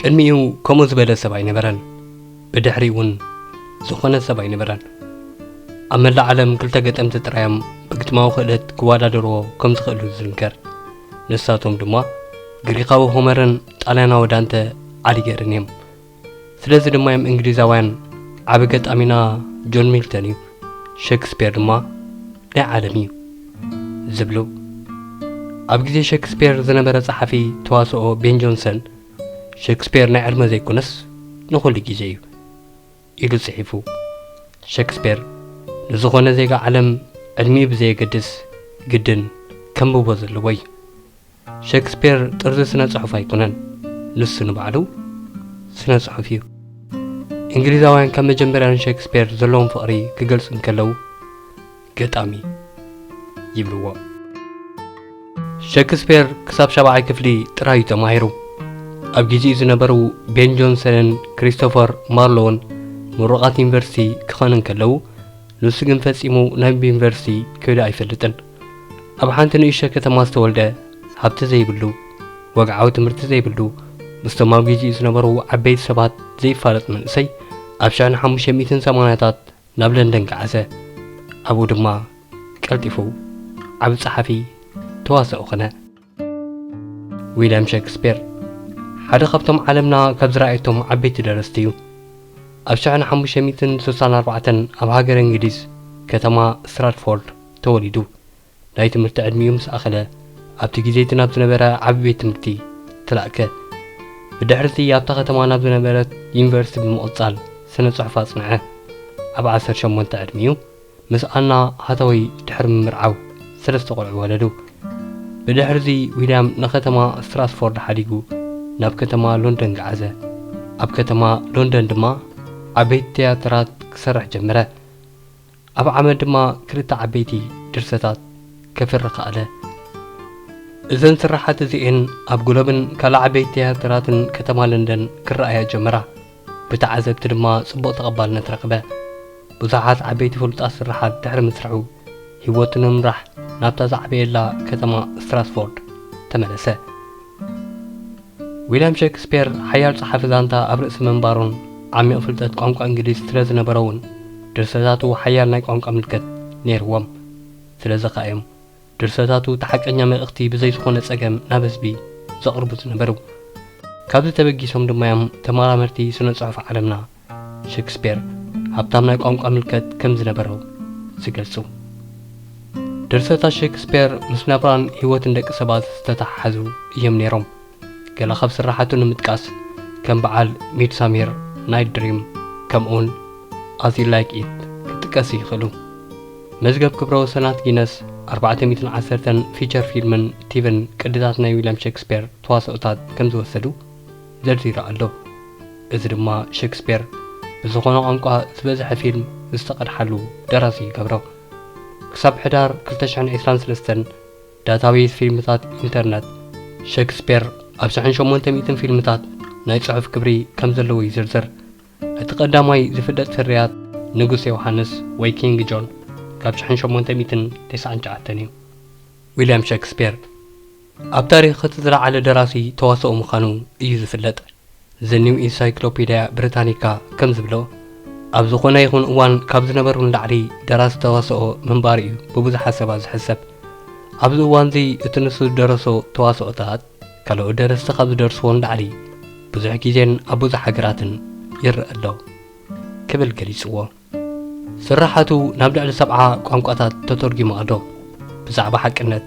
ቅድሚኡ ከምኡ ዝበለ ሰብ ኣይነበረን፣ ብድሕሪኡ'ውን ዝኾነ ሰብ ኣይነበረን። ኣብ መላእ ዓለም ክልተ ገጠምቲ ጥራይ'ዮም ብግጥማዊ ክእለት ክወዳደርዎ ከም ዝኽእሉ ዝዝንከር፣ ንሳቶም ድማ ግሪኻዊ ሆመርን ጣልያናዊ ዳንተ ኣሊገርን እዮም። ስለዚ ድማ'ዮም እንግሊዛውያን ዓቢ ገጣሚና ጆን ሚልተን እዩ፣ ሸክስፔር ድማ ናይ ዓለም እዩ ዝብሉ ኣብ ግዜ ሸክስፔር ዝነበረ ጸሓፊ ተዋስኦ ቤን ጆንሰን ሸክስፔር ናይ ዕድመ ዘይኮነስ ንኹሉ ግዜ እዩ ኢሉ ጽሒፉ ሸክስፔር ንዝኾነ ዜጋ ዓለም ዕድሚኡ ብዘየገድስ ግድን ከንብቦ ዘለዎ እዩ ሸክስፔር ጥርዚ ስነ ጽሑፍ ኣይኮነን ንሱ ንባዕሉ ስነ ጽሑፍ እዩ። እንግሊዛውያን ካብ መጀመርያ ንሸክስፔር ዘለዎም ፍቕሪ ክገልጹ እንከለዉ ገጣሚ ይብልዎ። ሸክስፔር ክሳብ ሻብዓይ ክፍሊ ጥራይ እዩ ተማሂሩ። ኣብ ግዜኡ ዝነበሩ ቤን ጆንሰንን ክሪስቶፈር ማርሎውን ምሩቓት ዩኒቨርሲቲ ክኾኑ እንከለዉ ንሱ ግን ፈጺሙ ናብ ዩኒቨርሲቲ ከይዱ ኣይፈልጥን። ኣብ ሓንቲ ንእሽቶ ከተማ ዝተወልደ፣ ሃብቲ ዘይብሉ፣ ወግዓዊ ትምህርቲ ዘይብሉ፣ ምስቶም ኣብ ግዜኡ ዝነበሩ ዓበይቲ ሰባት ዘይፋለጥ መንእሰይ ኣብ ሽሕን ሓሙሽተ ሚእትን ሰማንያታት ናብ ለንደን ገዓዘ። ኣብኡ ድማ ቀልጢፉ ዓቢ ጸሓፊ፣ ተዋሳኢ ኮነ። ዊልያም ሸክስፒር ሓደ ካብቶም ዓለምና ካብ ዝረኣየቶም ዓበይቲ ደረስቲ እዩ። ኣብ ሽሕን ሓሙሽተ ሚእትን ስሳን ኣርባዕተን ኣብ ሃገረ እንግሊዝ ከተማ ስትራትፎርድ ተወሊዱ። ናይ ትምህርቲ ዕድሚኡ ምስ ኣኸለ ኣብቲ ግዜ እቲ ናብ ዝነበረ ዓቢ ቤት ትምህርቲ ተላእከ። ብድሕሪ እቲ ኣብታ ከተማ ናብ ዝነበረት ዩኒቨርሲቲ ብምቕጻል ስነ ጽሑፍ ኣጽንዐ። ኣብ ዓሰርተ ሸሞንተ ዕድሚኡ ምስ ኣና ሃታወይ ድሕሪ ምምርዓው ሰለስተ ቆልዑ ወለዱ። ብድሕርዚ ዊልያም ንከተማ ስትራስፎርድ ሓዲጉ ናብ ከተማ ሎንደን ገዓዘ። ኣብ ከተማ ሎንደን ድማ ዓበይቲ ትያትራት ክሰርሕ ጀመረ። ኣብ ዓመት ድማ ክልተ ዓበይቲ ድርሰታት ከፍሪ ከኣለ። እዘን ስርሓት እዚኤን ኣብ ግሎብን ካልእ ዓበይቲ ትያትራትን ከተማ ለንደን ክረኣያ ጀመራ። ብተዓዘብቲ ድማ ጽቡቕ ተቐባልነት ረኽበ። ብዙሓት ዓበይቲ ፍሉጣት ስርሓት ድሕሪ ምስርሑ፣ ህይወቱ ንምምራሕ ናብታ ዝዓበየላ ከተማ ስትራስፎርድ ተመለሰ። ዊልያም ሸክስፔር ሓያል ጸሓፊ ዛንታ ኣብ ርእሲ ምንባሩን ዓሚቕ ፍልጠት ቋንቋ እንግሊዝ ስለ ዝነበሮ'ውን ድርሰታቱ ሓያል ናይ ቋንቋ ምልከት ነይርዎም። ስለዚ ከኣ'ዮም ድርሰታቱ እቲ ሓቀኛ መልእኽቲ ብዘይ ዝኾነ ጸገም ናብ ህዝቢ ዘቕርቡ ዝነበሩ። ካብዚ ተበጊሶም ድማ'ዮም ተመራመርቲ ስነ-ጽሑፍ ዓለምና፣ ሸክስፔር ሃብታም ናይ ቋንቋ ምልከት ከም ዝነበሮ ዝገልጹ። ድርሰታት ሸክስፔር ምስ ናብራን ህይወትን ደቂ ሰባት ዝተተሓሓዙ እዮም ነይሮም። ገለ ካብ ስርሓቱ ንምጥቃስ ከም በዓል ሚድሳሚር ናይት ድሪም ከምኡውን ኣዝ ዩ ላይክ ኢት ክጥቀሱ ይኽእሉ። መዝገብ ክብረ ወሰናት ጊነስ ኣርባዕተ ሚእትን ዓሰርተን ፊቸር ፊልምን ቲቪን ቅድታት ናይ ዊልያም ሸክስፔር ተዋስኦታት ከም ዝወሰዱ ዘርዚሩ ኣሎ። እዚ ድማ ሸክስፔር ብዝኾነ ቋንቋ ዝበዝሐ ፊልም ዝተቐድሓሉ ደራሲ ይገብሮ። ክሳብ ሕዳር ክልተ ሽሕን ዒስራን ሰለስተን ዳታቤዝ ፊልምታት ኢንተርነት፣ ሸክስፔር ኣብ ስሕን ሸሞንተ ሚእትን ፊልምታት ናይ ጽሑፍ ክብሪ ከም ዘለዎ ይዝርዝር። እቲ ቀዳማይ ዝፍለጥ ፍርያት ንጉስ ዮውሓንስ ወይ ኪንግ ጆን ካብ ሽሕን ሸሞንተ ሚእትን ተስዓን ትሽዓተን እዩ። ዊልያም ሸክስፔር ኣብ ታሪኽ እቲ ዝለዓለ ደራሲ ተዋስኦ ምዃኑ እዩ ዝፍለጥ። ዘ ኒው ኢንሳይክሎፒድያ ብሪታኒካ ከም ዝብሎ፣ ኣብ ዝዀነ ይኹን እዋን ካብ ዝነበሩ ንላዕሊ ደራሲ ተዋስኦ ምንባሩ እዩ ብብዙሓት ሰባት ዝሕሰብ። ኣብዚ እዋንዚ እቲ ንሱ ዝደረሶ ተዋስኦታት ካልኦት ደረስቲ ካብ ዝደርስዎ ንላዕሊ ብዙሕ ግዜን ኣብ ብዙሕ ሃገራትን ይረኣ ኣሎ ክብል ገሊጽዎ። ስርሓቱ ናብ ልዕሊ ሰብዓ ቋንቋታት ተተርጒሙ ኣሎ። ብዛዕባ ሓቅነት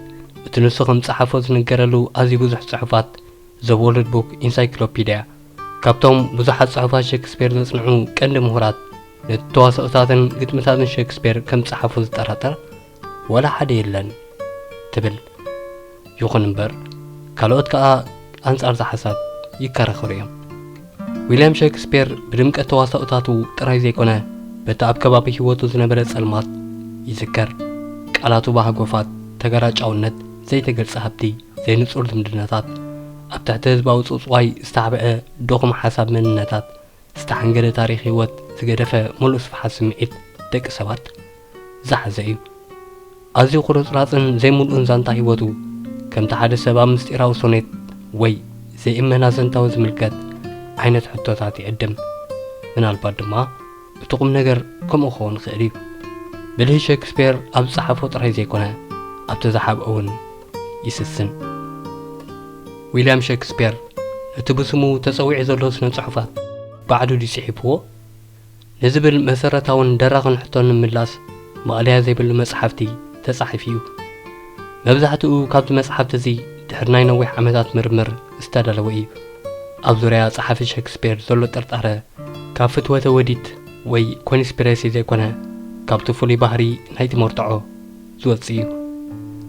እቲ ንሱ ከም ዝጸሓፎ ዝንገረሉ ኣዝዩ ብዙሕ ጽሑፋት ዘ ዎርልድ ቡክ ኢንሳይክሎፒድያ ካብቶም ብዙሓት ጽሑፋት ሸክስፔር ዘጽንዑ ቀንዲ ምሁራት ነቲ ተዋስኦታትን ግጥምታትን ሸክስፔር ከም ዝጸሓፎ ዝጠራጠር ዋላ ሓደ የለን ትብል። ይኹን እምበር ካልኦት ከኣ ኣንጻር'ዚ ሓሳብ ይከራኸሩ እዮም። ዊልያም ሸክስፔር ብድምቀት ተዋሳኦታቱ ጥራይ ዘይኮነ በቲ ኣብ ከባቢ ህይወቱ ዝነበረ ጸልማት ይዝከር። ቃላቱ ብሃጎፋት፣ ተገራጫውነት፣ ዘይተገልጸ ሃብቲ፣ ዘይንጹር ዝምድናታት፣ ኣብ ትሕቲ ህዝባዊ ጽውጽዋይ ዝተሓብዐ ድኹም ሓሳብ መንነታት ዝተሓንገደ ታሪኽ ህይወት ዝገደፈ ምሉእ ስፍሓት ስምዒት ደቂ ሰባት ዝሓዘ እዩ። ኣዝዩ ቁርጽራጽን ዘይምሉእን ዛንታ ህይወቱ፣ ከምቲ ሓደ ሰብ ኣብ ምስጢራዊ ሶኔት ወይ ዘይእመን ኣዘንታዊ ዝምልከት ዓይነት ሕቶታት ይዕድም። ምናልባት ድማ እቲ ቁም ነገር ከምኡ ክኸውን ይኽእል እዩ። ብልሂ ሸክስፔር ኣብ ዝጸሓፎ ጥራይ ዘይኮነ፣ ኣብቲ ዝሓብኦ እውን ይስስን። ዊልያም ሸክስፔር ነቲ ብስሙ ተጸዊዑ ዘሎ ስነ-ጽሑፋት ባዕሉ ድዩ ጽሒፍዎ? ንዝብል መሰረታውን ደራኽን ሕቶ ንምላስ ማእለያ ዘይብሉ መጽሓፍቲ ተጻሒፉ እዩ። መብዛሕትኡ ካብዚ መጽሓፍቲ እዚ ድሕሪ ናይ ነዊሕ ዓመታት ምርምር ዝተዳለወ እዩ። ኣብ ዙርያ ጸሓፊ ሸክስፔር ዘሎ ጥርጣረ ካብ ፍትወተ ወዲት ወይ ኮንስፒረሲ ዘይኮነ ካብቲ ፍሉይ ባህሪ ናይቲ መርትዖ፣ ዝወጽእ እዩ።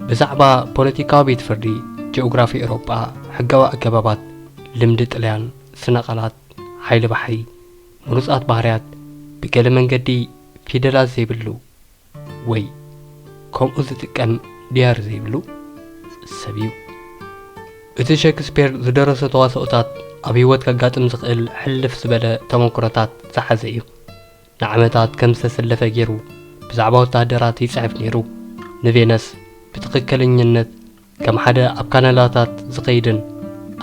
ብዛዕባ ፖለቲካዊ ቤት ፍርዲ፣ ጂኦግራፊ ኤውሮጳ፣ ሕጋዊ ኣገባባት፣ ልምዲ ጥልያን፣ ስነ ቃላት፣ ሓይሊ ባሕሪ፣ ምሩጻት ባህርያት፣ ብገለ መንገዲ ፊደላት ዘይብሉ ወይ ከምኡ ዝጥቀም ብሄር ዘይብሉ ሰብ እዩ። እቲ ሸክስፔር ዝደረሶ ተዋስኦታት ኣብ ህይወት ከጋጥም ዝኽእል ሕልፍ ዝበለ ተመኩሮታት ዝሓዘ እዩ። ንዓመታት ከም ዝተሰለፈ ገይሩ ብዛዕባ ወተሃደራት ይጽሕፍ ነይሩ። ንቬነስ ብትኽክለኝነት ከም ሓደ ኣብ ካናዳታት ዝኸይድን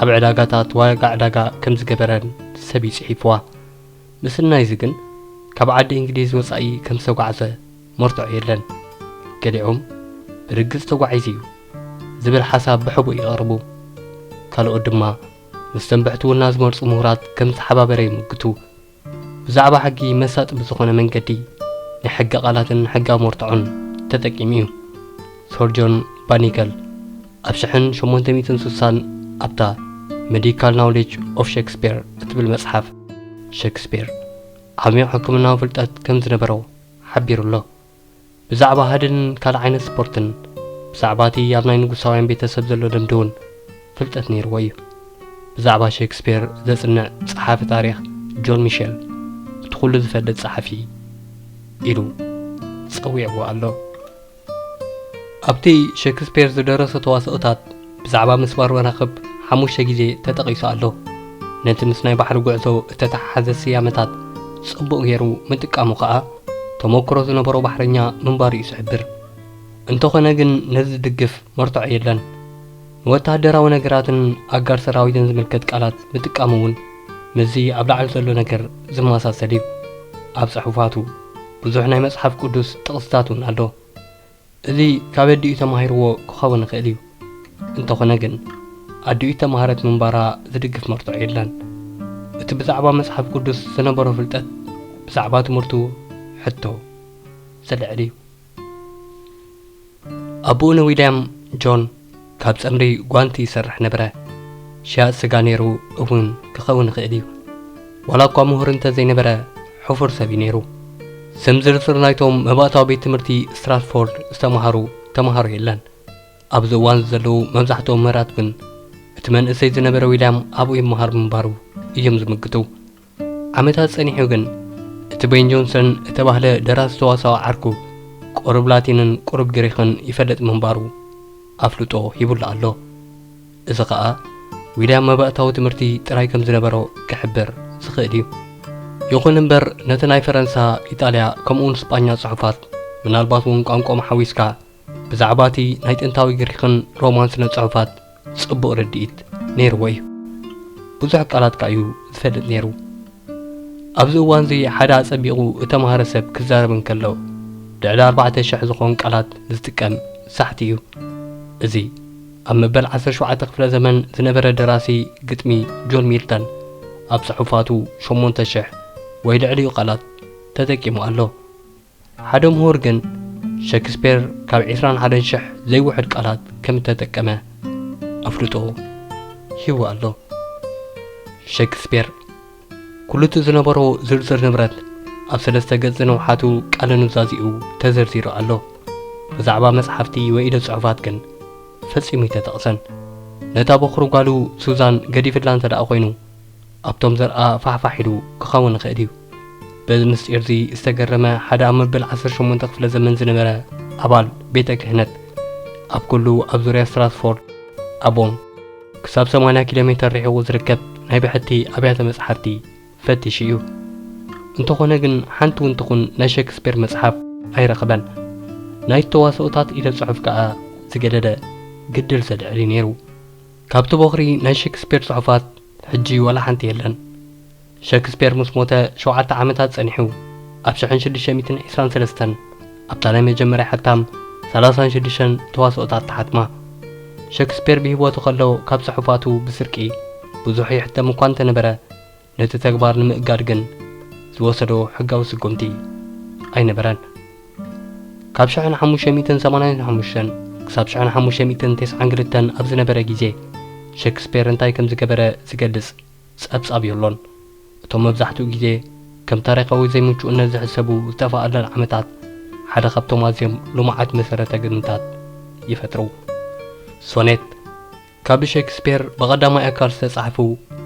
ኣብ ዕዳጋታት ዋጋ ዕዳጋ ከም ዝገበረን ሰብ እዩ ጽሒፍዋ። ምስናይዚ ግን ካብ ዓዲ እንግሊዝ ወጻኢ ከም ዝተጓዕዘ መርትዖ የለን። ገሊኦም ብርግጽ ተጓዒዙ እዩ ዝብል ሓሳብ ብሕቡእ የቕርቡ። ካልኦት ድማ ምስ ተንበሕቲ ወናዝመርጹ ምሁራት ከም ዝተሓባበረ ይምጉቱ። ብዛዕባ ሕጊ መሳጢ ብዝኾነ መንገዲ ናይ ሕጊ ቃላትን ሕጋዊ መርትዖን ተጠቂሙ እዩ። ሰር ጆን ባኒገል ኣብ ሽሕን ሸሞንተ ሚእትን ስሳን ኣብታ መዲካል ናውሌጅ ኦፍ ሸክስፔር እትብል መጽሓፍ ሸክስፔር ዓሚዩቕ ሕክምናዊ ፍልጠት ከም ዝነበሮ ሓቢሩ ኣሎ። ብዛዕባ ሃድንን ካልእ ዓይነት ስፖርትን፣ ብዛዕባ እቲ ኣብ ናይ ንጉሳውያን ቤተሰብ ዘሎ ልምዲ እውን ፍልጠት ነይርዎ እዩ። ብዛዕባ ሸክስፔር ዘጽንዕ ጸሓፊ ታሪኽ ጆን ሚሸል፣ እቲ ዅሉ ዝፈልጥ ጸሓፊ ኢሉ ጸዊዕዎ ኣሎ። ኣብቲ ሸክስፔር ዝደረሶ ተዋስኦታት፣ ብዛዕባ ምስባር መራኽብ ሓሙሽተ ግዜ ተጠቒሱ ኣሎ። ነቲ ምስ ናይ ባሕሪ ጉዕዞ እተተሓሓዘ ስያመታት ጽቡቕ ገይሩ ምጥቃሙ ከኣ፣ ተመክሮ ዝነበሮ ባሕረኛ ምንባሩ'ዩ ዝሕብር። እንተኾነ ግን ነዚ ዝድግፍ መርትዖ የለን። ንወተሃደራዊ ነገራትን ኣጋር ሰራዊትን ዝምልከት ቃላት ምጥቃሙ'ውን ምስዚ ኣብ ላዕሊ ዘሎ ነገር ዝመሳሰል'ዩ። ኣብ ጽሑፋቱ ብዙሕ ናይ መጽሓፍ ቅዱስ ጥቕስታት'ውን ኣሎ። እዚ ካብ ኣዲኡ ተማሂርዎ ክኸውን ይኽእል እዩ፣ እንተኾነ ግን ኣዲኡ እተማህረት ምንባራ ዝድግፍ መርትዖ የለን። እቲ ብዛዕባ መጽሓፍ ቅዱስ ዝነበሮ ፍልጠት ብዛዕባ ትምህርቱ ሕቶ ዘልዕል እዩ። ኣቦኡ ንዊልያም ጆን። ካብ ጸምሪ ጓንቲ ይሰርሕ ነበረ። ሸያጥ ስጋ ነይሩ እውን ክኸውን ይኽእል እዩ። ዋላ እኳ ምሁር እንተ ዘይነበረ፣ ሕፉር ሰብ እዩ ነይሩ። ስም ዝርዝር ናይቶም መባእታዊ ቤት ትምህርቲ ስትራትፎርድ ዝተማሃሩ ተማሃሮ የለን። ኣብዚ እዋን እዚ ዘለዉ መብዛሕትኦም ምህራት ግን እቲ መንእሰይ ዝነበረ ዊልያም ኣብኡ ይመሃር ምንባሩ እዮም ዝምግቱ። ዓመታት ጸኒሑ ግን እቲ ቤን ጆንሰን እተባህለ ደራሲ ተዋሳኦ ዓርኩ ቁሩብ ላቲንን ቁሩብ ግሪኽን ይፈልጥ ምንባሩ ኣፍልጦ ሂቡሉ ኣሎ። እዚ ከኣ ዊልያም መባእታዊ ትምህርቲ ጥራይ ከም ዝነበሮ ክሕብር ዝኽእል እዩ። ይኹን እምበር ነቲ ናይ ፈረንሳ፣ ኢጣልያ ከምኡውን ስጳኛ ጽሑፋት ምናልባት እውን ቋንቋኦም ሓዊስካ፣ ብዛዕባ እቲ ናይ ጥንታዊ ግሪኽን ሮማን ስነ-ጽሑፋት ጽቡቕ ርድኢት ነይርዎ እዩ። ብዙሕ ቃላት ከኣ እዩ ዝፈልጥ ነይሩ። ኣብዚ እዋንዚ ሓደ ኣጸቢቑ እተማህረ ሰብ ክዛረብ እንከሎ ልዕሊ ኣርባዕተ ሽሕ ዝኾን ቃላት ዝጥቀም ሳሕቲ እዩ። እዚ ኣብ መበል ዓሰርተ ሸውዓተ ክፍለ ዘመን ዝነበረ ደራሲ ግጥሚ ጆን ሚልተን ኣብ ጽሑፋቱ ሸሞንተ ሽሕ ወይ ልዕሊኡ ቃላት ተጠቂሙ ኣሎ። ሓደ ምሁር ግን ሸክስፔር ካብ ዕስራን ሓደን ሽሕ ዘይውሕድ ቃላት ከም እተጠቀመ ኣፍልጦ ሂቡ ኣሎ። ሸክስፔር ኩሉ'ቲ ዝነበሮ ዝርዝር ንብረት ኣብ ሰለስተ ገጽ ዝንውሓቱ ቃለ ኑዛዜኡ ተዘርዚሩ ኣሎ። ብዛዕባ መጽሓፍቲ ወይ ኢደ ጽሑፋት ግን ፈጺሙ ኣይተጠቕሰን። ነታ በዅሪ ጓሉ ሱዛን ገዲፍላ እንተደኣ ኰይኑ፣ ኣብቶም ዘርኣ ፋሕፋሕ ኢሉ ክኸውን ይኽእል እዩ። በዚ ምስጢርዚ ዝተገረመ ሓደ ኣብ መበል ዓሰርተ ሸሞንተ ክፍለ ዘመን ዝነበረ ኣባል ቤተ ክህነት፣ ኣብ ኩሉ ኣብ ዙርያ ስትራትፎርድ ኣቦን ክሳብ ሰማንያ ኪሎ ሜተር ርሒቑ ዝርከብ ናይ ብሕቲ ኣብያተ መጽሓፍቲ ፈቲሹ እዩ። እንተኾነ ግን ሓንቲ እውን ትኹን ናይ ሸክስፔር መጽሓፍ ኣይረኸበን። ናይቲ ተዋስኦታት ኢደ ጽሑፍ ከኣ ዝገደደ ግድል ሰድዕል እዩ ነይሩ። ካብቲ ቦኽሪ ናይ ሸክስፔር ጽሑፋት ሕጂ ዋላ ሓንቲ የለን። ሸክስፔር ምስ ሞተ ሸውዓተ ዓመታት ጸኒሑ፣ ኣብ ሽሕን ሽዱሽተ ሚእትን ዒስራን ሰለስተን ኣብታ ናይ መጀመርያ ሕታም ሰላሳን ሽዱሽተን ተዋስኦታት ተሓትማ። ሸክስፔር ብህይወቱ ከሎ ካብ ጽሑፋቱ ብስርቂ ብዙሕ ይሕተም እኳ እንተ ነበረ፣ ነቲ ተግባር ንምእጋድ ግን ዝወሰዶ ሕጋዊ ስጉምቲ ኣይነበረን። ካብ ሽሕን ሓሙሽተ ሚእትን ሰማንያን ሓሙሽተን ክሳብ ሽሕን ሓሙሽተ ሚእትን ተስዓን ክልተን ኣብ ዝነበረ ግዜ፣ ሸክስፔር እንታይ ከም ዝገበረ ዝገልጽ ጸብጻብ የሎን። እቶም መብዛሕትኡ ግዜ ከም ታሪኻዊ ዘይምቹእነት ዝሕሰቡ ዝጠፍኣለን ዓመታት፣ ሓደ ካብቶም ኣዝዮም ልሙዓት መሰረተ ግምታት ይፈጥሩ። ሶኔት። ካብ ብሸክስፔር ብቐዳማይ ኣካል ዝተጻሕፉ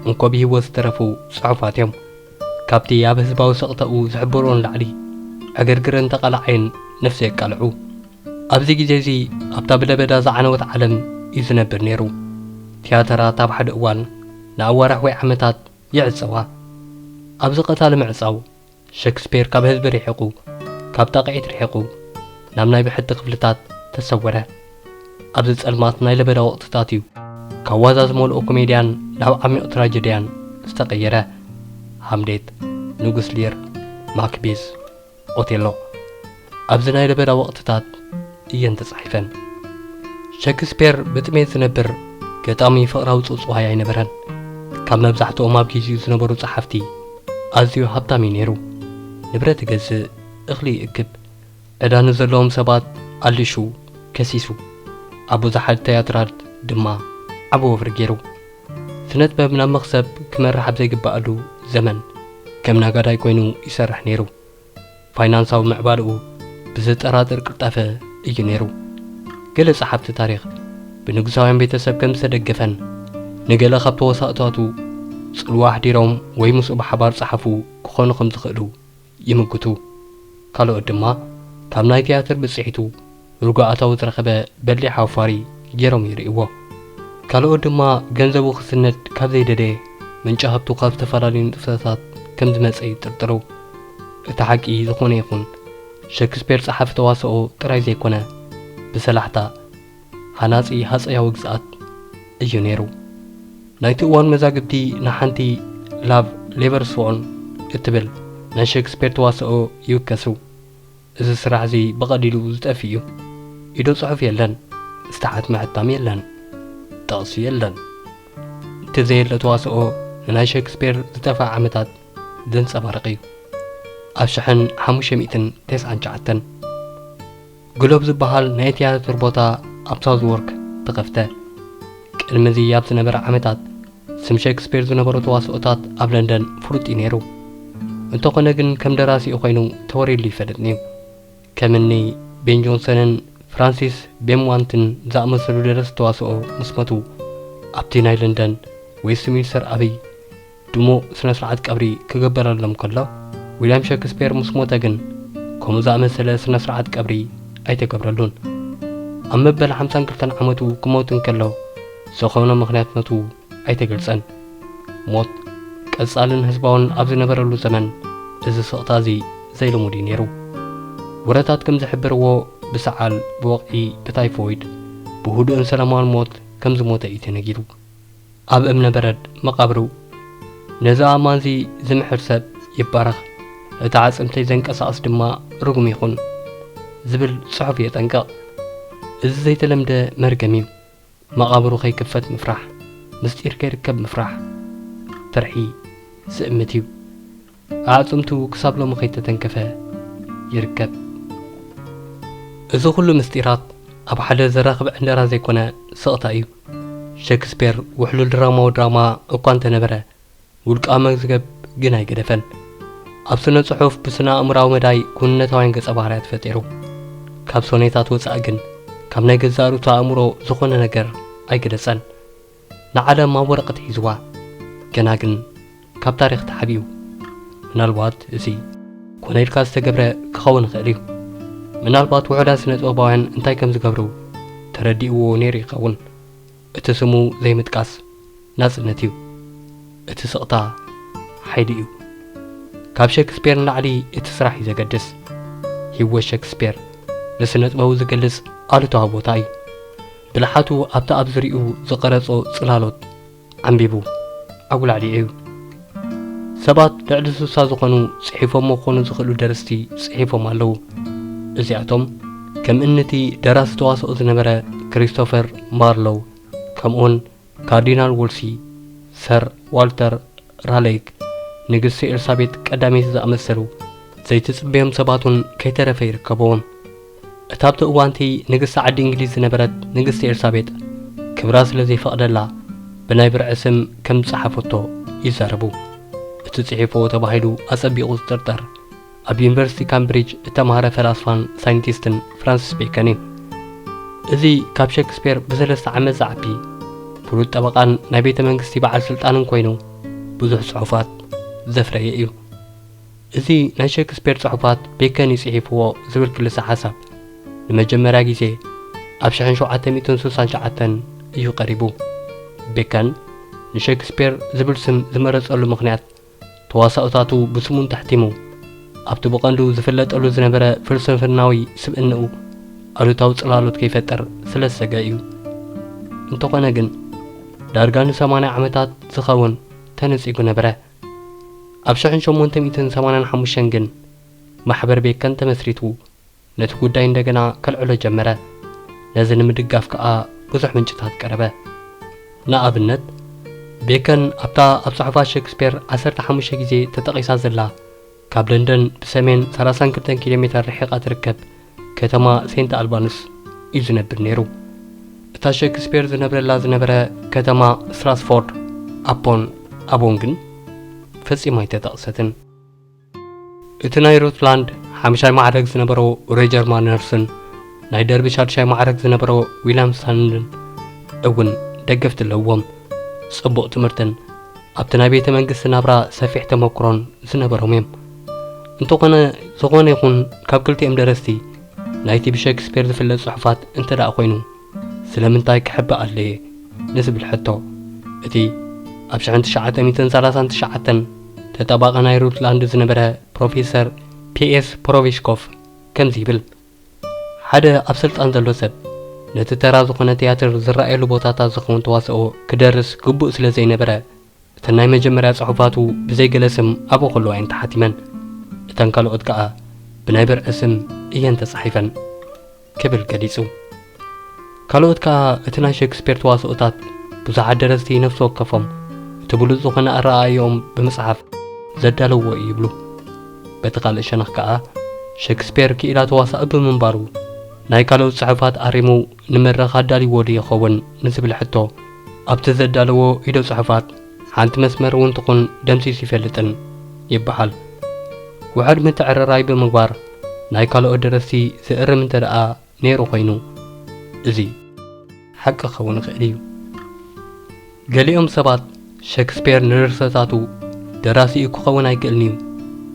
እንኮ ብሂወት ዝተረፉ ጽሑፋት እዮም። ካብቲ ኣብ ህዝባዊ ስቕታኡ ዝሕብርኦ ንላዕሊ ዕግርግርን ተቓላዓይን ነፍሲ የቃልዑ። ኣብዚ ግዜ እዚ ኣብታ ብለበዳ ዝዓነወት ዓለም እዩ ዝነብር ነይሩ። ትያተራት ኣብ ሓደ እዋን ንኣዋርሕ ወይ ዓመታት ይዕጸዋ። ኣብዚ ቀታሊ ምዕጻው ሸክስፔር ካብ ህዝቢ ርሒቑ፣ ካብ ጣቕዒት ርሒቑ፣ ናብ ናይ ብሕቲ ክፍልታት ተሰወረ። ኣብዚ ጸልማት ናይ ለበዳ ወቕትታት እዩ፣ ካብ ዋዛ ዝመልኦ ኮሜድያን ናብ ዓሚቕ ትራጀድያን ዝተቐየረ። ሃምሌት፣ ንጉስ ሊር፣ ማክቤዝ፣ ኦቴሎ። ኣብዚ ናይ ለበዳ ወቕትታት እየን ተጻሒፈን። ሸክስፔር ብጥሜት ዝነብር ገጣሚ ፍቕራዊ ጽውጽዋይ ኣይነበረን። ካብ መብዛሕትኦም ኣብ ግዜኡ ዝነበሩ ጸሓፍቲ ኣዝዩ ሃብታም እዩ ነይሩ። ንብረት ይገዝእ፣ እኽሊ ይእክብ፣ ዕዳ ንዘለዎም ሰባት ኣሊሹ፣ ከሲሱ፣ ኣብ ብዙሓት ትያትራት ድማ ዓቢ ወፍሪ ገይሩ። ስነጥበብ ናብ መኽሰብ ክመርሕ ኣብ ዘይግብኣሉ ዘመን ከም ነጋዳይ ኮይኑ ይሰርሕ ነይሩ። ፋይናንሳዊ ምዕባለኡ ብዘጠራጥር ቅልጣፈ እዩ ነይሩ። ገለ ጸሓፍቲ ታሪኽ ብንጉሳውያን ቤተሰብ ከም ዝተደገፈን ንገለ ካብ ተዋሳእታቱ ጽልዋ ኣሕዲሮም ወይ ምስኡ ብሓባር ጸሓፉ ክኾኑ ከም ዝኽእሉ ይምጉቱ። ካልኦት ድማ ካብ ናይ ትያትር ብጽሒቱ ርጉኣታዊ ዝረኸበ በሊሕ ኣውፋሪ ጌሮም ይርእይዎ። ካልኦት ድማ ገንዘቡ ክስነድ ካብ ዘይደለየ ምንጪ ሃብቱ ካብ ዝተፈላለዩ ንጥፈታት ከም ዝመጸ ይጥርጥሩ። እቲ ሓቂ ዝኾነ ይኹን ሸክስፔር ጸሓፊ ተዋስኦ ጥራይ ዘይኮነ ብሰላሕታ ሃናጺ ሃጸያዊ ግዝኣት እዩ ነይሩ። ናይቲ እዋን መዛግብቲ ንሓንቲ ላቭ ሌቨርስዎን እትብል ናይ ሸክስፔር ተዋስኦ ይውከሱ። እዚ ስራሕ እዚ ብቐሊሉ ዝጠፍእ እዩ። ኢዶ ጽሑፍ የለን፣ ዝተሓት ምሕታም የለን፣ ጥቕሲ የለን። እቲ ዘየለ ተዋስኦ ንናይ ሸክስፔር ዝጠፍኣ ዓመታት ዘንጸባርቕ እዩ። ኣብ ሽሕን ሓሙሽተ ሚእትን ተስዓን ትሽዓተን ግሎብ ዝበሃል ናይ ትያትር ቦታ ኣብ ሳውዝዎርክ ተኸፍተ። ቅድሚ እዚ ኣብ ዝነበረ ዓመታት ስም ሸክስፔር ዝነበሮ ተዋስኦታት ኣብ ለንደን ፍሉጥ እዩ ነይሩ። እንተኾነ ግን ከም ደራሲኡ ኮይኑ ተወሪሉ ይፈልጥን'ዩ። ከም እኒ ቤን ጆንሰንን ፍራንሲስ ቤምዋንትን ዝኣመሰሉ ደረስቲ ተዋስኦ ምስ ሞቱ ኣብቲ ናይ ለንደን ዌስትሚንስተር ዓብይ ድሙቕ ስነ ስርዓት ቀብሪ ክግበረሎም ከሎ ዊልያም ሸክስፔር ምስ ሞተ ግን ከምኡ ዝኣመሰለ ስነ ስርዓት ቀብሪ ኣይተገብረሉን። ኣብ መበል ሓምሳን ክልተን ዓመቱ ክሞት እንከሎ ዝኾነ ምኽንያት ነቱ ኣይተገልጸን። ሞት ቀጻልን ህዝባውን ኣብ ዝነበረሉ ዘመን እዚ ስቕታ እዚ ዘይልሙድ እዩ ነይሩ። ወረታት ከም ዝሕብርዎ ብሰዓል፣ ብወቕዒ፣ ብታይፎይድ፣ ብህዱእን ሰላማውን ሞት ከም ዝሞተ እዩ ተነጊሩ። ኣብ እምነ በረድ መቓብሩ ነዚ ኣእማንዚ ዝምሕር ሰብ ይባረኽ፣ እቲ ኣዕጽምተይ ዘንቀሳቕስ ድማ ርጉም ይኹን ዝብል ጽሑፍ የጠንቅቕ። እዚ ዘይተለምደ መርገም እዩ። መቓብሩ ከይክፈት ምፍራሕ፣ ምስጢር ከይርከብ ምፍራሕ፣ ፍርሒ ዝእምት እዩ። ኣዕጽምቱ ክሳብ ሎሚ ከይተተንከፈ ይርከብ። እዚ ኩሉ ምስጢራት ኣብ ሓደ ዘራኽብ ዕንደራ ዘይኮነ ስቕታ እዩ። ሸክስፔር ውሕሉል ድራማዊ ድራማ እኳ እንተነበረ፣ ውልቃዊ መዝገብ ግን ኣይገደፈን። ኣብ ስነ-ጽሑፍ ብስነ-ኣእምሮኣዊ መዳይ ክውንነታውያን ገጸ-ባህርያት ፈጢሩ። ካብ ሶኔታት ወጻኢ ግን ካብ ናይ ገዛእ ርእሱ ኣእምሮ ዝኾነ ነገር ኣይገለጸን። ንዓለም ኣብ ወረቐት ሒዝዋ። ገና ግን ካብ ታሪኽ ተሓቢኡ። ምናልባት እዚ። ኮነ ኢልካ ዝተገብረ ክኸውን ይኽእል እዩ። ምናልባት ውሑዳት ስነ-ጥበባውያን እንታይ ከም ዝገብሩ ተረዲእዎ ነይሩ ይኸውን። እቲ ስሙ ዘይምጥቃስ ናጽነት እዩ። እቲ ስቕታ ሓይሊ እዩ። ካብ ሸክስፔር ንላዕሊ እቲ ስራሕ እዩ ዘገድስ። ህይወት ሸክስፔር ንስነጥበቡ ዝገልጽ ኣሉታዊ ቦታ እዩ። ብልሓቱ ኣብቲ ኣብ ዙርይኡ ዝቐረጾ ጽላሎት ዓምቢቡ ኣጉላዕሊዑ እዩ። ሰባት ልዕሊ ስሳ ዝኾኑ ጽሒፎሞ ክኾኑ ዝኽእሉ ደርስቲ ጽሒፎም ኣለዉ። እዚኣቶም ከም እኒ'ቲ ደራሲ ተዋስኦ ዝነበረ ክሪስቶፈር ማርሎው ከምኡ'ውን ካርዲናል ዎልሲ፣ ሰር ዋልተር ራሌይክ፣ ንግስቲ ኤልሳቤጥ ቀዳመይቲ ዝኣመሰሉ ዘይትጽበዮም ሰባት'ውን ከይተረፈ ይርከብዎም። እታ ኣብቲ እዋን'ቲ ንግስቲ ዓዲ እንግሊዝ ዝነበረት ንግስቲ ኤልሳቤጥ፣ ክብራ ስለ ዘይፈቕደላ ብናይ ብርዒ ስም ከም ዝጸሓፈቶ ይዛረቡ። እቲ ጽሒፎኦ ተባሂሉ ኣጸቢቑ ዝጥርጠር፣ ኣብ ዩኒቨርሲቲ ካምብሪጅ እተማህረ ፈላስፋን ሳይንቲስትን ፍራንሲስ ቤከን እዩ። እዚ ካብ ሸክስፔር ብሰለስተ ዓመት ዝዓቢ፣ ፍሉጥ ጠበቓን ናይ ቤተ መንግስቲ በዓል ስልጣንን ኰይኑ ብዙሕ ጽሑፋት ዘፍረየ እዩ። እዚ ናይ ሸክስፔር ጽሑፋት ቤከን እዩ ጽሒፍዎ ዝብል ክልሰ ሓሳብ ንመጀመርያ ግዜ ኣብ ሽሕን ሸውዓተ ሚእትን ስሳን ሸዓተን እዩ ቀሪቡ። ቤከን ንሸክስፔር ዝብል ስም ዝመረጸሉ ምኽንያት ተዋሳኦታቱ ብስሙ እንተሕቲሙ ኣብቲ ብቐንዱ ዝፍለጠሉ ዝነበረ ፍልስፍናዊ ስብእንኡ ኣሉታዊ ጽላሎት ከይፈጥር ስለ ዝሰግአ እዩ። እንተኾነ ግን ዳርጋ ንሰማንያ ዓመታት ዝኸውን ተነጺጉ ነበረ። ኣብ ሸሕን ሸሞንተ ሚእትን ሰማንያን ሓሙሽተን ግን ማሕበር ቤከን ተመስሪቱ ነቲ ጉዳይ እንደገና ከልዕሎ ጀመረ። ነዚ ንምድጋፍ ከኣ ብዙሕ ምንጭታት ቀረበ። ንኣብነት ቤከን ኣብታ ኣብ ጽሑፋት ሸክስፔር ዓሰርተ ሓሙሽተ ግዜ ተጠቒሳ ዘላ ካብ ለንደን ብሰሜን ሰላሳን ክልተን ኪሎ ሜተር ርሒቓ እትርከብ ከተማ ሴንት ኣልባንስ እዩ ዝነብር ነይሩ። እታ ሸክስፔር ዝነብረላ ዝነበረ ከተማ ስትራስፎርድ ኣፖን ኣቦን ግን ፈጺማ ኣይተጠቕሰትን። እቲ ናይ ሩት ላንድ ሓምሻይ ማዕረግ ዝነበሮ ሮጀር ማነርስን ናይ ደርቢ ሻድሻይ ማዕረግ ዝነበሮ ዊልያም ስታንልን እውን ደገፍቲ ኣለዎም። ጽቡቕ ትምህርትን ኣብቲ ናይ ቤተ መንግስቲ ናብራ ሰፊሕ ተመክሮን ዝነበሮም እዮም። እንተኾነ ዝኾነ ይኹን ካብ ክልቲኦም ደረስቲ ናይቲ ብሸክስፔር ዝፍለጥ ጽሑፋት እንተ ደኣ ኮይኑ ስለምንታይ ክሕበ ኣድለየ ንዝብል ሕቶ እቲ ኣብ ሽሕን ትሽዓተ ሚእትን ሰላሳን ትሽዓተን ተጣባቒ ናይ ሩትላንድ ዝነበረ ፕሮፌሰር ፒኤስ ፖሮቪሽኮፍ ከምዚ ይብል። ሓደ ኣብ ስልጣን ዘሎ ሰብ ነቲ ተራ ዝኾነ ትያትር ዝረኣየሉ ቦታታት ዝኸውን ተዋስኦ ክደርስ ግቡእ ስለ ዘይነበረ እተን ናይ መጀመርያ ጽሑፋቱ ብዘይ ገለ ስም ኣብኡ ከሎ እየን ተሓቲመን። እተን ካልኦት ከኣ ብናይ ብርዒ ስም እየን ተጻሒፈን ክብል ገሊጹ። ካልኦት ከኣ እቲ ናይ ሸክስፔር ተዋስኦታት ብዙሓት ደረስቲ ነፍሲ ወከፎም እቲ ብሉጽ ዝኾነ ኣረኣእያኦም ብምጽሓፍ ዘዳለውዎ እዩ ይብሉ። በቲ ካልእ ሸነኽ ከኣ ሸክስፔር ክኢላ ተዋሳኢ ብምንባሩ ናይ ካልኦት ጽሑፋት ኣሪሙ ንመድረኽ ኣዳልይዎዶ ይኸውን ንዝብል ሕቶ ኣብቲ ዘዳለዎ ኢደ ጽሑፋት ሓንቲ መስመር እውን ትኹን ደምሲሱ ይፈልጥን ይበሃል። ውሑድ ምትዕርራይ ብምግባር ናይ ካልኦት ደረስቲ ዘእርም እንተደኣ ነይሩ ኮይኑ እዚ ሓቂ ክኸውን ይኽእል እዩ። ገሊኦም ሰባት ሸክስፔር ንድርሰታቱ ደራሲኡ ክኸውን ኣይክእልን'ዩ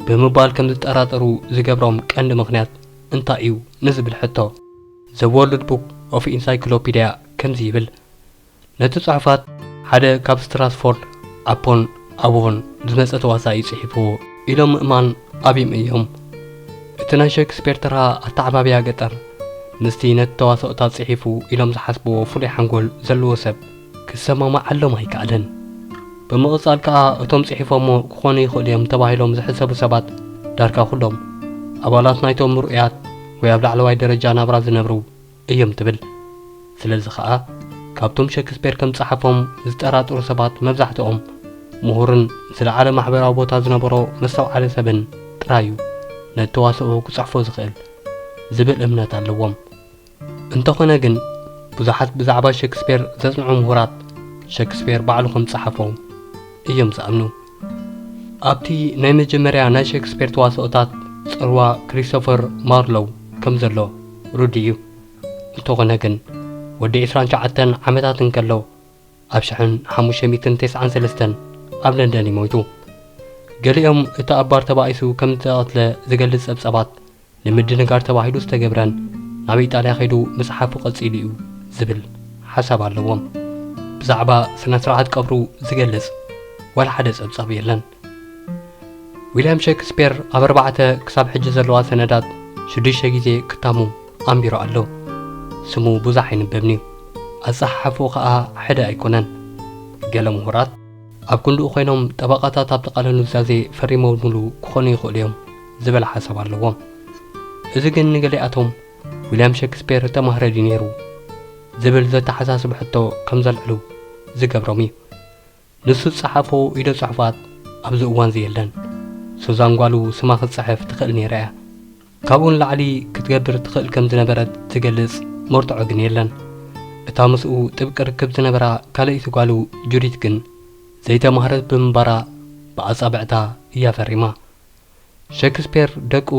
ብምባል ከም ዝጠራጠሩ ዝገብሮም ቀንዲ ምኽንያት እንታይ'ዩ ንዝብል ሕቶ፣ ዘ ዎርልድ ቡክ ኦፍ ኢንሳይክሎፒድያ ከምዚ ይብል፣ ነቲ ጽሑፋት ሓደ ካብ ስትራትፎርድ ኣፖን ኣቦን ዝመጸ ተዋሳኣይ ጽሒፍዎ ኢሎም ምእማን ኣብዩም እዮም። እቲ ናይ ሸክስፔር ተራ ኣተዓባብያ ገጠር ምስቲ ነቲ ተዋስኦታት ጽሒፉ ኢሎም ዝሓስብዎ ፍሉይ ሓንጎል ዘለዎ ሰብ ክሰማማዓሎም ኣይከኣለን። ብምቕጻል ከኣ እቶም ጽሒፎሞ ክኾኑ ይኽእሉ እዮም ተባሂሎም ዝሕሰቡ ሰባት ዳርጋ ኩሎም ኣባላት ናይቶም ምርኡያት ወይ ኣብ ላዕለዋይ ደረጃ ናብራ ዝነብሩ እዮም ትብል። ስለዚ ኸኣ ካብቶም ሸክስፔር ከም ዝጸሓፎም ዝጠራጠሩ ሰባት መብዛሕትኦም ምሁርን ዝለዓለ ማሕበራዊ ቦታ ዝነበሮ መስተውዓሊ ሰብን ጥራይ እዩ ነቲ ተዋስኦ ክጽሕፎ ዝኽእል ዝብል እምነት ኣለዎም። እንተዀነ ግን ብዙሓት ብዛዕባ ሸክስፔር ዘጽንዑ ምሁራት ሸክስፔር ባዕሉ ከም ዝጸሓፎ እዮም ዝኣምኑ። ኣብቲ ናይ መጀመርያ ናይ ሸክስፔር ተዋስኦታት ጽልዋ ክሪስቶፈር ማርሎው ከም ዘሎ ርዱእ እዩ። እንተኾነ ግን ወዲ ዕስራን ትሽዓተን ዓመታት እንከሎ ኣብ ሽሕን ሓሙሽተ ሚእትን ተስዓን ሰለስተን ኣብ ለንደን እዩ ሞይቱ። ገሊኦም እቲ ኣብ ባር ተባኢሱ ከም ዝተቐትለ ዝገልጽ ጸብጻባት ንምድንጋር ተባሂሉ ዝተገብረን ናብ ኢጣልያ ከይዱ ምጽሓፉ ቀጺሉ እዩ ዝብል ሓሳብ ኣለዎም። ብዛዕባ ስነ ስርዓት ቀብሩ ዝገልጽ ዋላ ሓደ ጸብጻብ የለን። ዊልያም ሸክስፔር ኣብ ኣርባዕተ ክሳብ ሕጂ ዘለዋ ሰነዳት ሽዱሽተ ግዜ ክታሙ ኣንቢሩ ኣሎ። ስሙ ብዙሕ ኣይንበብን'ዩ፣ ኣጸሓሕፍኡ ከኣ ሕደ ኣይኮነን። ገለ ምሁራት ኣብ ክንድኡ ኮይኖም ጠበቓታት ኣብቲ ቃለ ኑዛዜ ፈሪሞምሉ ክኾኑ ይኽእሉ እዮም። ዝበል ሓሳብ ኣለዎም። እዚ ግን ንገሊኣቶም ዊልያም ሸክስፔር እተማህረ ድዩ ነይሩ? ዝብል ዘተሓሳስብ ሕቶ ከም ዘልዕሉ ዝገብሮም እዩ። ንሱ ዝጸሓፎ ኢደ ጽሑፋት ኣብዚ እዋንዚ የለን። ሱዛን ጓሉ ስማ ክትጽሕፍ ትኽእል ነይራ እያ። ካብኡ ንላዕሊ ክትገብር ትኽእል ከም ዝነበረት ዝገልጽ መርትዖ ግን የለን። እታ ምስኡ ጥብቂ ርክብ ዝነበራ ካልኣይቲ ጓሉ ጁዲት ግን ዘይተማህረት ብምንባራ ብኣጻብዕታ እያ ፈሪማ። ሸክስፔር ደቁ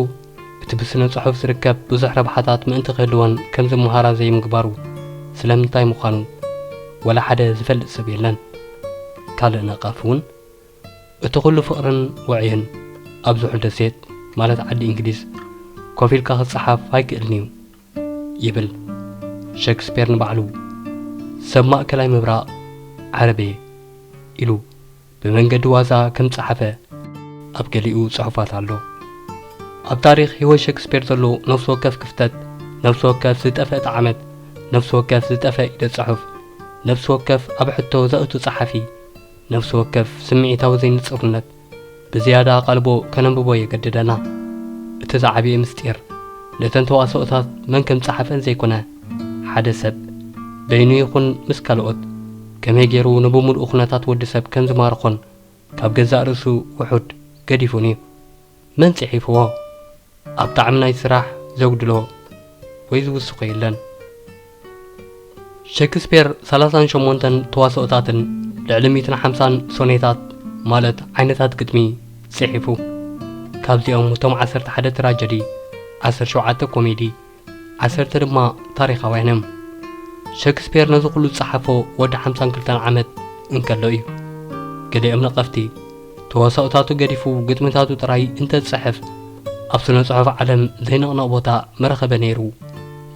እቲ ብስነ ጽሑፍ ዝርከብ ብዙሕ ረብሓታት ምእንቲ ክህልወን ከም ዝመሃራ ዘይምግባሩ ስለምንታይ ምዃኑ ዋላ ሓደ ዝፈልጥ ሰብ የለን። ካልእ ነቓፊ እውን እቲ ኩሉ ፍቕርን ወዕይን ኣብ ዝሑል ደሴት ማለት ዓዲ እንግሊዝ ኮፍ ኢልካ ክጸሓፍ ኣይክእልን'ዩ ይብል ሸክስፔር ንባዕሉ ሰብ ማእከላይ ምብራቕ ዓረብ'የ ኢሉ። ብመንገዲ ዋዛ ከም ዝጸሓፈ ኣብ ገሊኡ ጽሑፋት ኣሎ። ኣብ ታሪኽ ህይወት ሸክስፔር ዘሎ ነፍሲ ወከፍ ክፍተት፣ ነፍሲ ወከፍ ዝጠፈእት ዓመት፣ ነፍሲ ወከፍ ዝጠፈ ኢደ ጽሑፍ፣ ነፍሲ ወከፍ ኣብ ሕቶ ዘእቱ ጸሓፊ፣ ነፍሲ ወከፍ ስምዒታዊ ዘይንጽርነት ብዝያዳ ኣቓልቦ ከነንብቦ የገድደና። እቲ ዝዓበየ ምስጢር ነተን ተዋስኦታት መን ከም ዝጸሓፈን ዘይኮነ፣ ሓደ ሰብ፣ በይኑ ይኹን ምስ ካልኦት፣ ከመይ ገይሩ ንብምሉኡ ኩነታት ወዲ ሰብ ከም ዝማርኾን ካብ ገዛእ ርእሱ ውሑድ ገዲፉን እዩ። መን ጽሒፍዎ? ኣብ ጣዕሚ ናይ ስራሕ ዘጉድሎ ወይ ዝውስኾ የለን። ሸክስፔር ሰላሳን ሸሞንተን ተዋስኦታትን ልዕሊ ሚእትን ሓምሳን ሶኔታት ማለት ዓይነታት ግጥሚ ጽሒፉ። ካብዚኦም እቶም ዓሰርተ ሓደ ትራጀዲ፣ ዓሰርተ ሸውዓተ ኮሜዲ፣ ዓሰርተ ድማ ታሪኻውያን እዮም። ሸክስፔር ነዚ ኩሉ ዝጸሓፎ ወዲ ሓምሳን ክልተን ዓመት እንከሎ እዩ። ገሊኦም ነቐፍቲ፣ ተዋሳኦታቱ ገዲፉ ግጥምታቱ ጥራይ እንተ ዝጽሕፍ ኣብ ስነ ጽሑፍ ዓለም ዘይንቕነቕ ቦታ ምረኸበ ነይሩ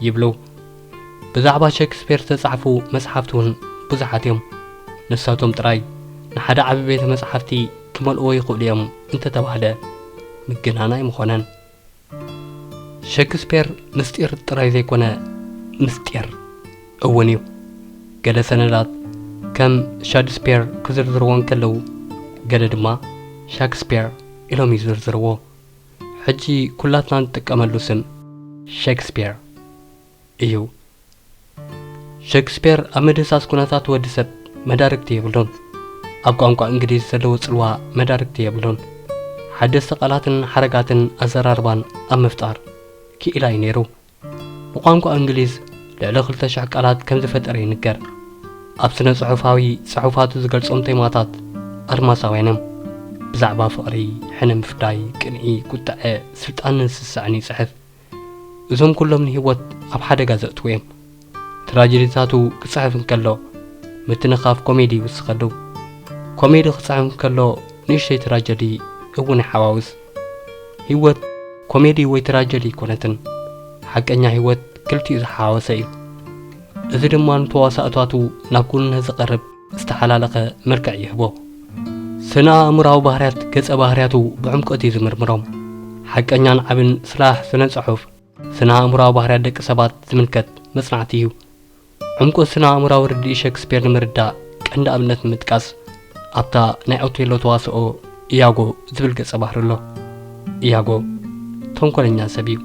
ይብሉ። ብዛዕባ ሸክስፔር ዝተጻሕፉ መጽሓፍቲ እውን ብዙሓት እዮም። ንሳቶም ጥራይ ንሓደ ዓቢ ቤተ መጽሓፍቲ ክመልእዎ ይኽእሉ እዮም እንተ ተባህለ ምግናን ኣይምኾነን። ሸክስፔር ምስጢር ጥራይ ዘይኮነ ምስጢር እውን እዩ። ገለ ሰነዳት ከም ሻድስፔር ክዝርዝርዎ እንከለዉ ገለ ድማ ሻክስፔር ኢሎም ይዝርዝርዎ። ሕጂ ኩላትና ንጥቀመሉ ስም ሸክስፔር። እዩ። ሸክስፔር ኣብ ምድህሳስ ኩነታት ወዲ ሰብ መዳርግቲ የብሉን። ኣብ ቋንቋ እንግሊዝ ዘለዎ ጽልዋ መዳርግቲ የብሉን። ሓደስቲ ቃላትን ሓረጋትን ኣዘራርባን ኣብ ምፍጣር ክኢላ እዩ ነይሩ። ብቋንቋ እንግሊዝ ልዕሊ ክልተ ሽሕ ቃላት ከም ዝፈጠረ ይንገር። ኣብ ስነ-ጽሑፋዊ ጽሑፋቱ ዝገልጾም ቴማታት ኣድማሳውያን እዮም። ብዛዕባ ፍቕሪ፣ ሕነ ምፍዳይ፣ ቅንኢ፣ ቁጥዐ፣ ስልጣንን ስስዐን ይጽሕፍ። እዞም ኩሎም ንህይወት ኣብ ሓደጋ ዘእትዉ እዮም። ትራጀዲታቱ ክጽሕፍ እንከሎ ምትንኻፍ ኮሜዲ ይውስኸሉ። ኮሜዲ ክጽሕፍ እንከሎ ንእሽተይ ትራጀዲ እውን ይሓዋውስ። ህይወት ኮሜዲ ወይ ትራጀዲ ኣይኮነትን። ሓቀኛ ህይወት ክልቲኡ ዝሓዋወሰ እዩ። እዚ ድማ ንተዋሳእታቱ ናብ ክውንነት ዘቐርብ ዝተሓላለኸ መልክዕ ይህቦ። ስነ-ኣእምሮኣዊ ባህርያት ገጸ ባህርያቱ ብዕምቈት እዩ ዝምርምሮም። ሓቀኛን ዓብን ስራሕ ስነ-ጽሑፍ፣ ስነ-ኣእምሮኣዊ ባህርያት ደቂ ሰባት ዝምልከት መጽናዕቲ እዩ። ዕምቈት ስነ-ኣእምሮኣዊ ርድኢት ሸክስፔር ንምርዳእ ቀንዲ ኣብነት ንምጥቃስ፣ ኣብታ ናይ ኦቴሎ ተዋስኦ ኢያጎ ዝብል ገጸ ባህሪ ኣሎ። ኢያጎ ተንኰለኛ ሰብ እዩ።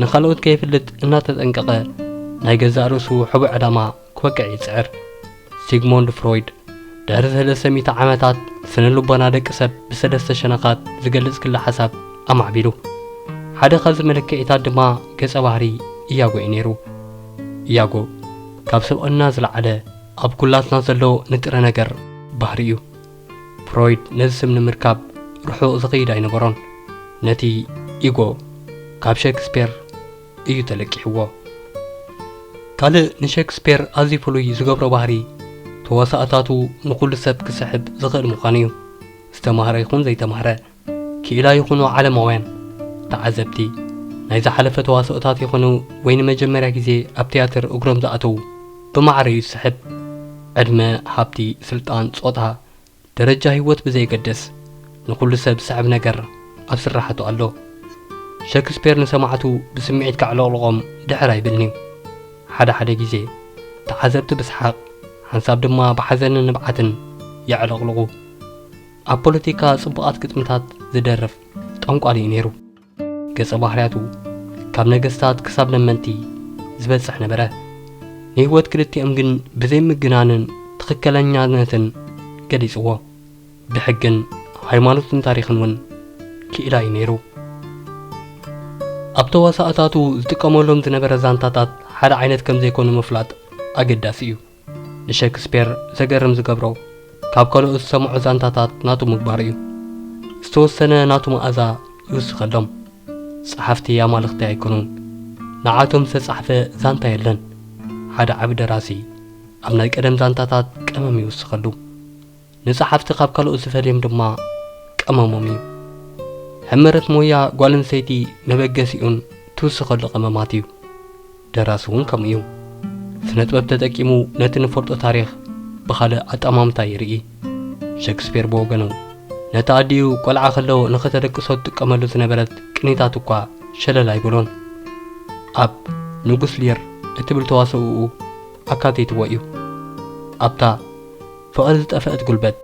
ንኻልኦት ከየፍልጥ እናተጠንቀቐ፣ ናይ ገዛእ ርእሱ ሕቡእ ዕላማ ክወቅዕ ይጽዕር። ሲግሞንድ ፍሮይድ ድሕሪ ሰለስተ ሚእቲ ዓመታት ስነ-ልቦና ደቂ ሰብ ብሰለስተ ሸነኻት ዝገልጽ ክለ-ሓሳብ ኣማዕቢሉ። ሓደ ካብዚ መለክዒታት ድማ ገጸ ባህሪ ኢያጎ እዩ ነይሩ። ኢያጎ ካብ ስብእና ዝለዓለ ኣብ ኩላትና ዘሎ ንጥረ ነገር ባህሪ እዩ። ፍሮይድ ነዚ ስም ንምርካብ ርሑቕ ዝኸይድ ኣይነበሮን። ነቲ ኢጎ ካብ ሸክስፔር፣ እዩ ተለቂሕዎ። ካልእ ንሸክስፔር ኣዝዩ ፍሉይ ዝገብሮ ባህሪ፣ ተዋሳእታቱ ንኹሉ ሰብ ክስሕብ ዝኽእል ምዃኑ እዩ። ዝተማህረ ይኹን ዘይተማህረ፣ ክኢላ ይኹኑ ዓለማውያን፣ ተዓዘብቲ፣ ናይ ዝሓለፈ ተዋስኦታት ይኹኑ ወይ ንመጀመርያ ግዜ ኣብ ትያትር እግሮም ዝኣተዉ፣ ብማዕረ እዩ ዝስሕብ። ዕድመ፣ ሃብቲ፣ ስልጣን፣ ጾታ፣ ደረጃ ህይወት ብዘየገድስ ንኹሉ ሰብ ዝስዕብ ነገር ኣብ ስርሓቱ ኣሎ። ሸክስፔር ንሰማዕቱ ብስምዒት ከዕለቕልቖም ድሕር ኣይብልን'ዩ። ሓደ ሓደ ግዜ ተዓዘብቲ ብስሓቕ ሓንሳብ ድማ ብሓዘንን ንብዓትን የዕለቕልቑ። ኣብ ፖለቲካ ጽቡቓት ግጥምታት ዝደርፍ ጠንቋሊ'ዩ ነይሩ። ገጸ ባህርያቱ ካብ ነገስታት ክሳብ ለመንቲ ዝበጽሕ ነበረ። ንህይወት ክልቲኦም ግን ብዘይ ምግናንን ትኽክለኛነትን ገሊጽዎ። ብሕግን ሃይማኖትን ታሪኽን ውን ክኢላ እዩ ነይሩ። ኣብ ተዋሳእታቱ ዝጥቀመሎም ዝነበረ ዛንታታት ሓደ ዓይነት ከምዘይኮኑ ምፍላጥ ኣገዳሲ እዩ። ንሸክስፔር ዘገርም ዝገብሮ ካብ ከልኦት ዝሰምዖ ዛንታታት ናቱ ምግባሩ እዩ። ዝተወሰነ ናቱ መኣዛ ይውስኸሎም። ጸሓፍቲ ኣማልኽቲ ኣይኮኑን። ንዓቶም ዝተጻሕፈ ዛንታ የለን። ሓደ ዓቢ ደራሲ ኣብ ናይ ቀደም ዛንታታት ቀመም ይውስኸሉ። ንጸሓፍቲ ካብ ካልኦት ዝፈልዮም ድማ ቀመሞም እዩ። ሕመረት ሞያ ጓል ኣንስተይቲ መበገሲኡን ትውስኸሉ ቀመማት እዩ። ደራሲ እውን ከምኡ እዩ። ስነጥበብ ተጠቂሙ ነቲ ንፈልጦ ታሪኽ ብኻልእ ኣጠማምታ ይርኢ። ሸክስፔር ብወገኑ ነታ ኣዲኡ ቆልዓ ከሎ ንኸተደቅሶ ትጥቀመሉ ዝነበረት ቅኒታት እኳ ሸለል ኣይበሎን። ኣብ ንጉስ ሊር እትብል ተዋስኦኡ ኣካቲትዎ እዩ። ኣብታ ፍቕሪ ዝጠፈእት ጉልበት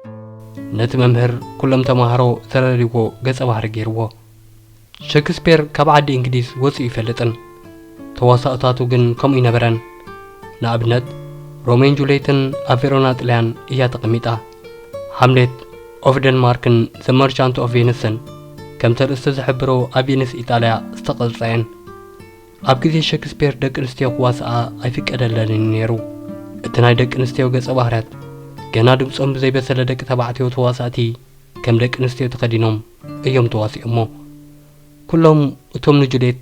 ነቲ መምህር ኩሎም ተማሃሮ ዝረርይዎ ገጸ ባህሪ ገይርዎ። ሸክስፔር ካብ ዓዲ እንግሊዝ ወጺኡ ኣይፈልጥን፣ ተዋሳእታቱ ግን ከምኡ ኣይነበረን። ንኣብነት ሮሜዮን ጁልየትን ኣብ ቬሮና ጥልያን እያ ተቐሚጣ። ሃምሌት ኦፍ ደንማርክን ዘ መርቻንት ኦፍ ቬንስን ከም ተርእስቲ ዝሕብሮ ኣብ ቬንስ ኢጣልያ ዝተቐርጻ እየን። ኣብ ግዜ ሸክስፔር ደቂ ኣንስትዮ ክዋስኣ ኣይፍቀደለንን እዩ ነይሩ። እቲ ናይ ደቂ ኣንስትዮ ገጸ ባህርያት ገና ድምጾም ብዘይበሰለ ደቂ ተባዕትዮ ተዋሳእቲ ከም ደቂ ኣንስትዮ ተኸዲኖም፣ እዮም ተዋሲኦሞ። ኩሎም እቶም ንጁሌት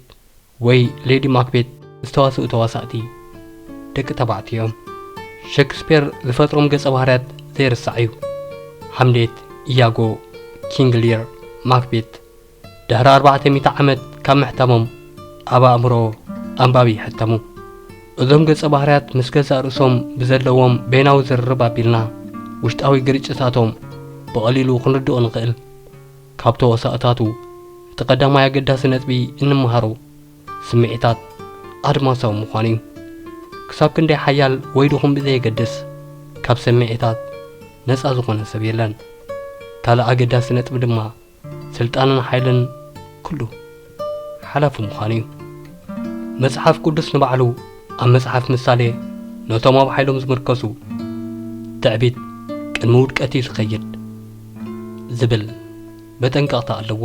ወይ ሌዲ ማክቤት ዝተዋስኡ ተዋሳእቲ ደቂ ተባዕትዮ እዮም። ሸክስፔር ዝፈጥሮም ገጸ ባህርያት ዘይርሳዕ እዩ። ሃምሌት፣ ኢያጎ፣ ኪንግ ሊር፣ ማክቤት ድሕሪ ኣርባዕተ ሚእቲ ዓመት ካብ ምሕታሞም ኣብ ኣእምሮ ኣንባቢ ይሕተሙ። እዞም ገጸ ባህርያት ምስ ገዛእ ርእሶም ብዘለዎም በይናዊ ዝርርብ ኣቢልና ውሽጣዊ ግርጭታቶም ብቐሊሉ ክንርድኦ ንኽእል። ካብ ተዋሳእታቱ እቲ ቀዳማይ ኣገዳሲ ነጥቢ እንመሃሮ ስምዒታት ኣድማሳዊ ምዃኑ እዩ። ክሳብ ክንደይ ሓያል ወይ ድኹም ብዘየገድስ ካብ ሰምዒታት ነጻ ዝኾነ ሰብ የለን። ካልእ ኣገዳሲ ነጥቢ ድማ፣ ስልጣንን ሓይልን ኩሉ ሓላፊ ምዃኑ እዩ። መጽሓፍ ቅዱስ ንባዕሉ ኣብ መጽሓፍ ምሳሌ ነቶም ኣብ ሓይሎም ዝምርከሱ ትዕቢት ቅድሚ ውድቀት እዩ ዝኸይድ ዝብል መጠንቀቕታ ኣለዎ።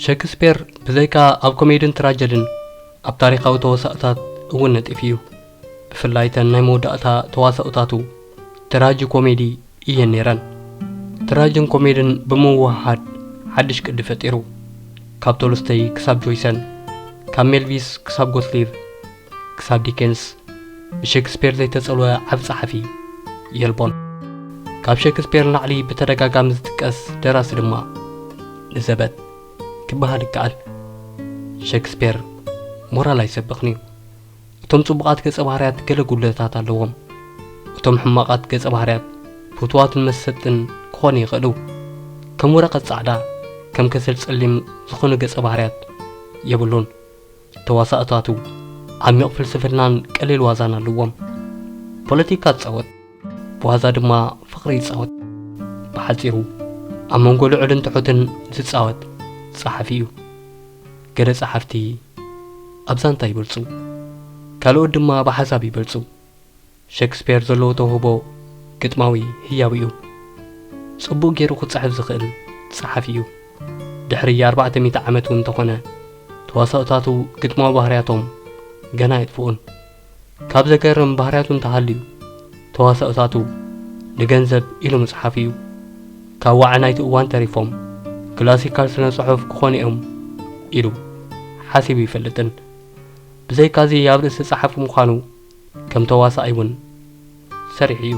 ሸክስፔር ብዘይካ ኣብ ኮሜድን ትራጀድን ኣብ ታሪኻዊ ተዋሳእታት እውን ነጢፉ እዩ። ብፍላይ እተን ናይ መወዳእታ ተዋሳእታቱ ትራጂ ኮሜዲ እየን ነይረን። ትራጅን ኮሜድን ብምውህሃድ ሓድሽ ቅዲ ፈጢሩ። ካብ ቶልስተይ ክሳብ ጆይሰን፣ ካብ ሜልቪስ ክሳብ ጎትሊብ፣ ክሳብ ዲኬንስ፣ ብሸክስፔር ዘይተጸልወ ዓቢ ጸሓፊ የልቦን። ካብ ሸክስፔር ንላዕሊ ብተደጋጋሚ ዝጥቀስ ደራሲ ድማ ንዘበት ክበሃል ይከኣል። ሸክስፔር ሞራል ኣይሰብኽን'ዩ። እቶም ጽቡቓት ገጸ-ባህርያት ገለ ጉድለታት ኣለዎም። እቶም ሕማቓት ገጸ-ባህርያት ፍቱዋትን መሰጥትን ክኾኑ ይኽእሉ። ከም ወረቐት ጻዕዳ፣ ከም ከሰል ጸሊም ዝኾኑ ገጸ-ባህርያት የብሉን። ተዋሳእታቱ ዓሚቕ ፍልስፍናን ቀሊል ዋዛን ኣለዎም። ፖለቲካ ትጻወት፣ ብዋዛ ድማ ፍቕሪ ይጻወት። ብሓጺሩ ኣብ መንጎ ልዑልን ትሑትን ዝጻወት ጸሓፊ'ዩ። ገለ ጸሓፍቲ ኣብ ዛንታ ይበልጹ፣ ካልኦት ድማ ብሓሳብ ይበልጹ። ሸክስፔር ዘለዎ ተውህቦ ግጥማዊ ህያው'ዩ። ጽቡቕ ገይሩ ክጽሕፍ ዝኽእል ጸሓፊ'ዩ። ድሕሪ ኣርባዕተ ሚእቲ ዓመት'ውን እንተኾነ ተዋሳኦታቱ ግጥማዊ ባህርያቶም ገና ኣየጥፍኡን። ካብ ዘገርም ባህርያቱ እንተሃልዩ ተዋሳኦታቱ ንገንዘብ ኢሉ ምጽሓፍ እዩ። ካብ ዋዒ ናይቲ እዋን ተሪፎም ክላሲካል ስነ-ጽሑፍ ክኾኑ'ዮም ኢሉ ሓሲቡ ኣይፈልጥን። ብዘይካ'ዚ ኣብ ርእሲ ጸሓፊ ምዃኑ ከም ተዋሳኣይ'ውን ሰሪሑ እዩ።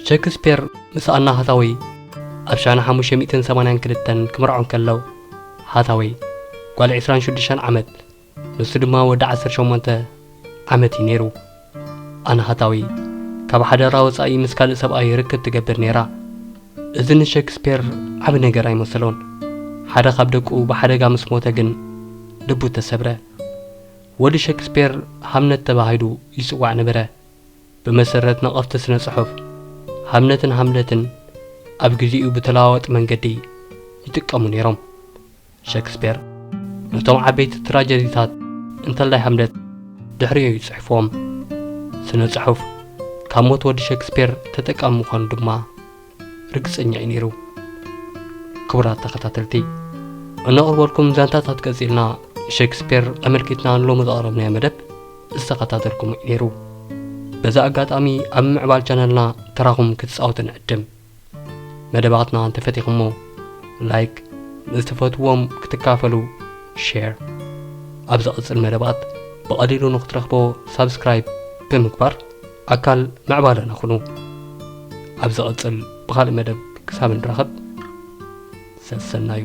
ሸክስፔር ምስ ኣና ሃታወይ ኣብ ሻነ ሓሙሽተ ሚእትን ሰማንያን ክልተን ክምርዖ እንከሎ፣ ሃታወይ ጓል ዕስራን ሽዱሽተን ዓመት፣ ንሱ ድማ ወዲ ዓሰርተ ሸሞንተ ዓመት እዩ ነይሩ። ኣናሃታዊ ካብ ሓዳራ ወጻኢ ምስ ካልእ ሰብኣይ ርክብ ትገብር ነይራ። እዚ ንሸክስፔር ዓቢ ነገር ኣይመሰሎን። ሓደ ካብ ደቁ ብሓደጋ ምስ ሞተ ግን ልቡ ተሰብረ። ወዲ ሸክስፔር ሃምነት ተባሂሉ ይጽዋዕ ነበረ። ብመሰረት ነቐፍቲ ስነ ጽሑፍ፣ ሃምነትን ሃምለትን ኣብ ግዜኡ ብተለዋዋጢ መንገዲ ይጥቀሙ ነይሮም። ሸክስፔር ነቶም ዓበይቲ ትራጀዲታት እንተላይ ሃምለት ድሕሪኡ እዩ ጽሒፍዎም። ስነ ጽሑፍ ካብ ሞት ወዲ ሸክስፔር ተጠቃሚ ምዃኑ ድማ ርግጸኛ እዩ ነይሩ። ክቡራት ተኸታተልቲ እነቕርበልኩም ዛንታታት ቀጺልና ንሸክስፔር ኣመልኪትና ንሎሚ ዘቕረብናዮ መደብ ዝተኸታተልኩም እዩ ነይሩ። በዚ ኣጋጣሚ ኣብ ምዕባል ቻነልና ተራኹም ክትጻወቱ ንዕድም። መደባትና እንተፈቲኹሞ ላይክ ንዝትፈትዎም ክትካፈሉ ሼር ኣብ ዝቕጽል መደባት ብቐሊሉ ንክትረኽቦ ሳብስክራይብ ብምግባር ኣካል ምዕባለና ኹኑ ኣብ ዝቕጽል ብኻልእ መደብ ክሳብ ንራኸብ ሰሰናዩ